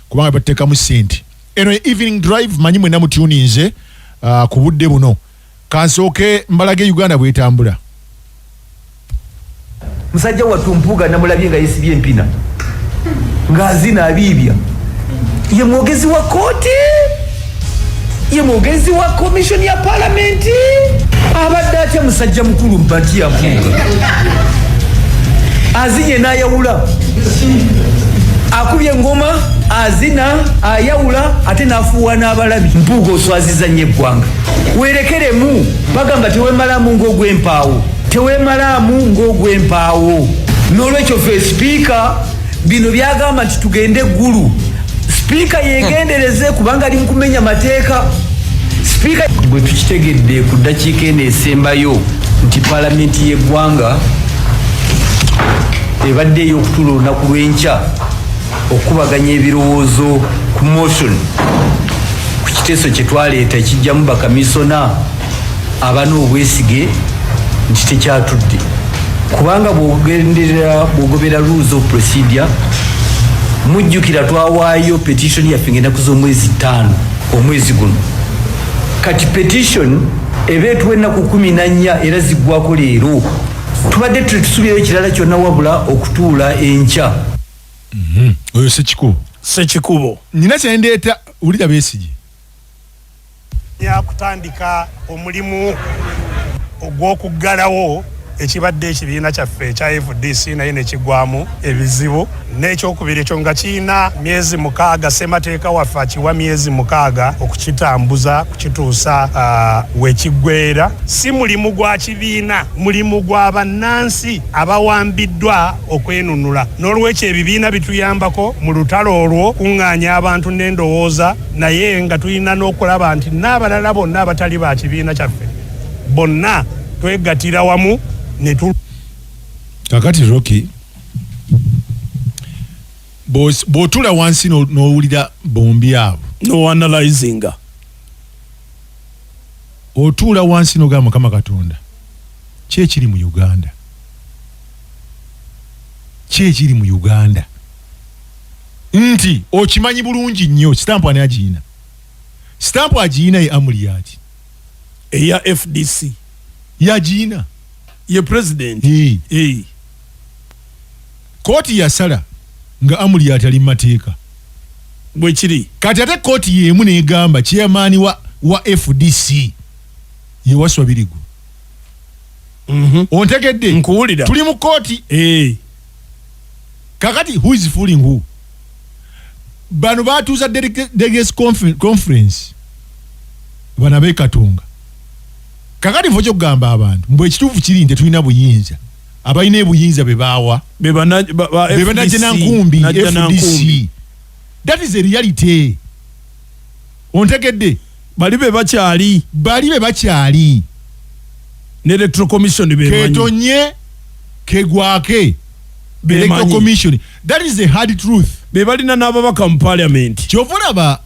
kubanga batekamu sente eno evening drive manyi mwena mutuninze uh, ku budde buno kansooke mbalaga e uganda bwetambula musajja wattu mpuuga namulabye nga yesibye empina ng'azina abiibya ye mwogezi wa kooti ye mwogezi wa komishoni ya palamenti abadde atya musajja mukulu mpati yavuuga azinye n'ayawula akubye engoma azina ayawula ate n'afuuwa n'abalabi mpuuga oswaziza nnyo eggwanga weerekeremu bagamba tewemalaamu ng'ogw'empaawo tewemalaamu ng'ogw'empaawo n'olwekyo fe sipiika Bino byagamba nti tugende Gulu. Sipiika yegendereze kubanga ali mukumenya mateeka. Sipiika bwe tukitegedde ku ddakiika eno esembayo nti palamenti y'eggwanga ebadde ey'okutuula olunaku lw'enkya okukubaganya ebirowoozo ku motion ku kiteeso kye twaleeta ekijjamu bakamisona abana obwesige nti tekyatudde kubanga bwogenderera bwogobera rules of procedure mujjukira twawaayo petition yaffe ngaenaku z'omwezi ttaano omwezi guno kati petition eba etuwa ennaku kumi na nnya era ziggwako leero tubadde tetusuubirayo kirala kyonna wabula okutuula enkya mhm. oyo sekikubo sekikubo nina kyendeeta wulira besigye yakutandika omulimu ogw'okuggalawo ekibadde ekibiina kyaffe ekya fdc naye nekigwamu ebizibu n'ekyokubiri ekyo nga kirina myezi mukaaga ssemateeka waffe akiwa myezi mukaaga okukitambuza kukituusa uh, wekiggweera si mulimu gwa kibiina mulimu gwa bannansi abawambiddwa okwenunula n'olwekyo ebibiina bituyambako mu lutalo olwo kuŋŋaanya abantu n'endowooza naye nga tulina n'okulaba nti n'abalala bonna abatali ba kibiina kyaffe bonna twegatira wamu ne tu kakati roki bw'otula wansi n'owulira bombi abo noanalizinga otuula wansi n'ogamba mukama katonda ki ekiri mu uganda ki ekiri mu uganda nti okimanyi bulungi nnyo sitampu ani agiyina sitampu agiyina ye amuli yaki eya fdc yagiyina ye president hey. Hey. kooti yasala nga amuli yati ali mumateeka bwekiri kati ate kooti yemu negamba chairman wa, wa fdc yewaswa birigu mm -hmm. ontegedde nkuwulira tuli mu kooti hey. kakati who is fooling who bano batuuza delegates conference bano abekatonga kakati nfa okyokugamba abantu mbu ekituufu kiri nti tulina buyinza abalina ebuyinza bebaawa bebanajja nankumbi fdc that is a reality ontegedde bali be bakyali bali be bakyali ne electoral commission be ketonye kegwake electoral commission that is a hard truth be balina n'ababaka mu parliament kyova olaba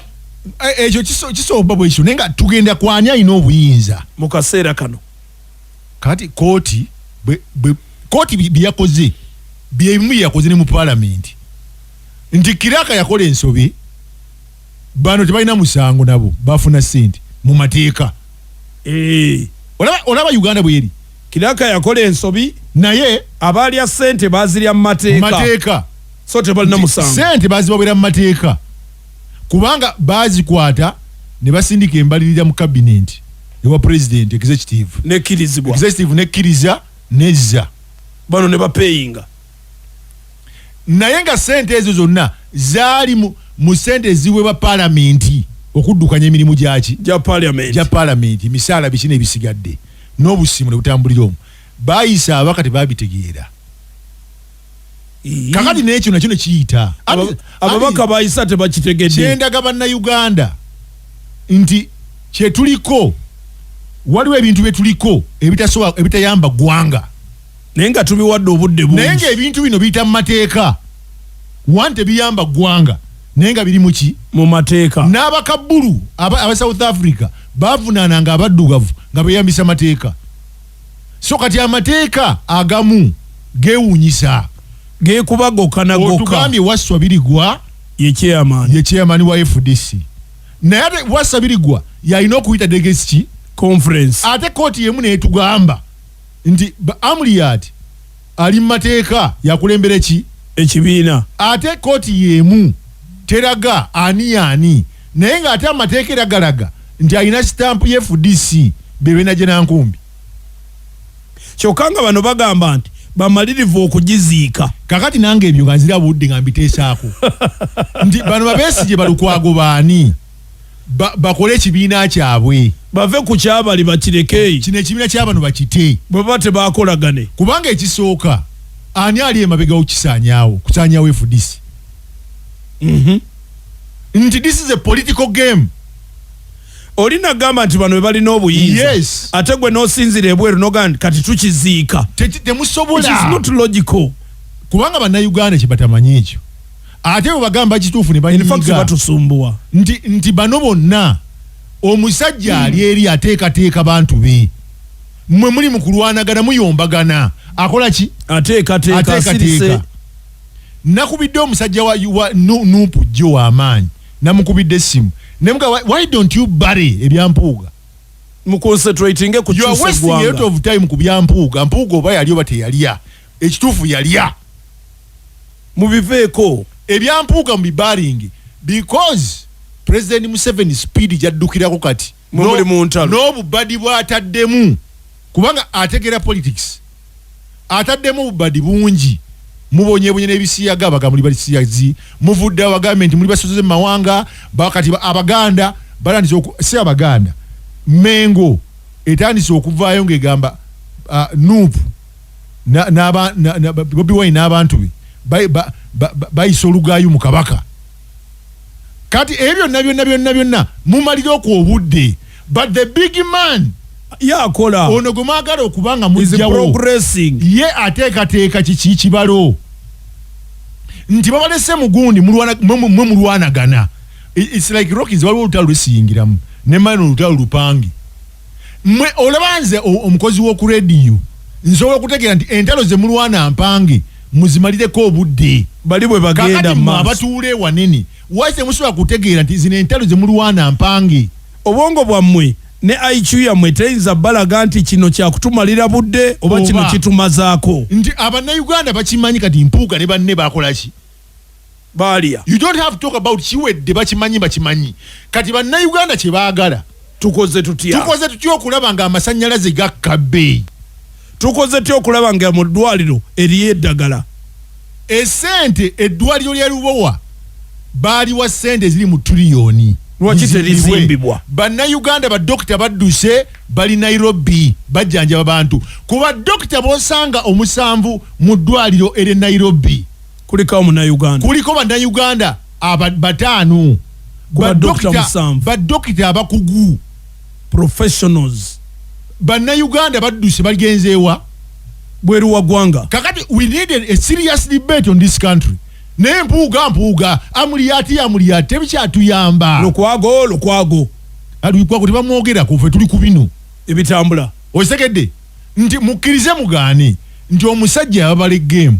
e, ekyo kisooba bwekyo naye nga tugenda kwani alina obuyinza mu kaseera kano kati kooti kooti byeyakoze byebimu byeyakoze ne mu parliament nti kiraka yakola ensobi bano tebalina musango nabo bafuna sente mu mateeka eh. olaba, olaba uganda bweri kiraka yakola ensobi naye abaalya sente bazirya mu mateeka so tebalina musango sente bazibawera mu mateeka kubanga bazikwata ne basindika embalirira mu kabinenti ewa president executive nekirizibwa executive nekkiriza nezza bano ne bapeyinga naye nga sente ezo zonna zaali mu sente eziweebwa palamenti okuddukanya emirimu gyaki gya palamenti emisaala biki nebisigadde n'obusimu ne butambulira omu bayisa abaka tebabitegeera kakati nekyo nakyo nekiyita ababaka bayisa tebakitegedde kyendaga bannauganda nti kyetuliko waliwo ebintu byetuliko ebitayamba ggwanga naye nga tubiwadde obudde bungi naye nga ebintu bino biyita mu mateeka one tebiyamba ggwanga naye nga birimu ki mu mateeka n'abakabbulu aba, aba south africa bavunaana nga abaddugavu nga beyambisa mateeka so kati amateeka agamu gewunyisa gekuba gokka na gokka otugambye wasswa birigwa ye chairman ye chairman wa fdc naye ate wasswa birigwa yalina okuyita degesi ki conference ate kooti yemu netugamba nti Amuriat ali mu mateeka yakulembera ki ekibiina ate kooti yeemu teraga ani yaani naye nga ate amateeka era galaga nti alina sitampu ye fdc bebenaje nankumbi kyokka nga bano bagamba nti bamalirivu okugiziika. Kakati nange ebyo nga nzira budde nga mbiteesaako nti bano babesigye balukwago baani? bakole ekibiina kyabwe bave ku kyabali bakireke kino ekibiina kyabano bakite bwebaba tebakolagane kubanga ekisooka ani ali emabegawo kisanyawo kusanyawo efudisi mhm. nti this is a political game oli nagamba nti bano bebalina obuyinza yes. ate gwe nosinzira ebweru noga nti kati tukiziika temusobola kubanga banauganda kyebatamanyi ekyo ate webagamba kituufu nebanyigabatusumbuwa nti, nti bano bonna omusajja hmm. ali eri ateekateeka bantu be mwe muli mu kulwanagana muyombagana akola ki ateekateeka nakubidde omusajja wa, wa nupu jjo wamaanyi namukubidde essimu nemuga why don't you bury ebyampuuga muconcentratinge ku time ku byampuuga mpuuga oba yali oba teyalya Ekituufu yalya. Mubiveeko. Ebya Mpuuga mubibaringe because President Museveni speed jaddukirako kati n'obubadi bwataddemu kubanga ategeera politics ataddemu obubadi bungi mubonyebonye n'ebisiyaga abaga muli basiyazi muvudde abagambe nti muli basoze mu mawanga bakati abaganda batandise si abaganda mengo etandise okuvaayo ng'egamba uh, nuupu bobi wine n'abantu be bayisa olugaayu mu kabaka kati ebyo byonna byonna byonna byonna mumalira okwo obudde but the big man yakola ono gwe mwagala okuba nga mujjawo ye ateekateeka kiki kibalo nti babalese mugundi mwe mulwanagana it's like rockins waliwo olutalo lwesiyingiramu nemani olutalo lupange mwe olaba nze omukozi w'oku rediyo nsobola okutegeera nti entalo ze mulwana mpange muzimalireko obudde bali bwe bagenda mu abatuula ewanene waki temusobola kutegeera nti zino entalo ze mulwana mpange obwongo bwammwe ne IQ yammwe teyinza balaga nti kino kyakutumalira budde oba kino kitumazaako nti abannayuganda bakimanyi kati mpuuga ne banne bakolaki baalya you don't have to talk about kiwedde bakimanyi bakimanyi kati bannayuganda kye baagala tukoze tutya tukoze tutya okulaba nga amasannyalaze gakka bbeeyi tukoze tutya okulaba nga mu ddwaliro eriyo eddagala esente eddwaliro lya lubowa baaliwa sente eziri mu tuliyoni lwaki terizimbibwa bannayuganda badokita badduse bali nairobi bajjanjaba bantu ku badokita bosanga omusanvu mu ddwaliro ere nairobi kulikawo munauganda kuliko bannayuganda bataano badokita abakugu professionals bannayuganda badduse bagenzeewa bweru wa ggwanga kakati we need a serious debate on this country naye mpuuga mpuuga amuliyati amuliyati tebikyatuyamba lukwago lukwago lukwago tebamwogerako fe tuli ku bino ebitambula okitegedde nti mukkirize mugaane nti omusajja yababala egeemu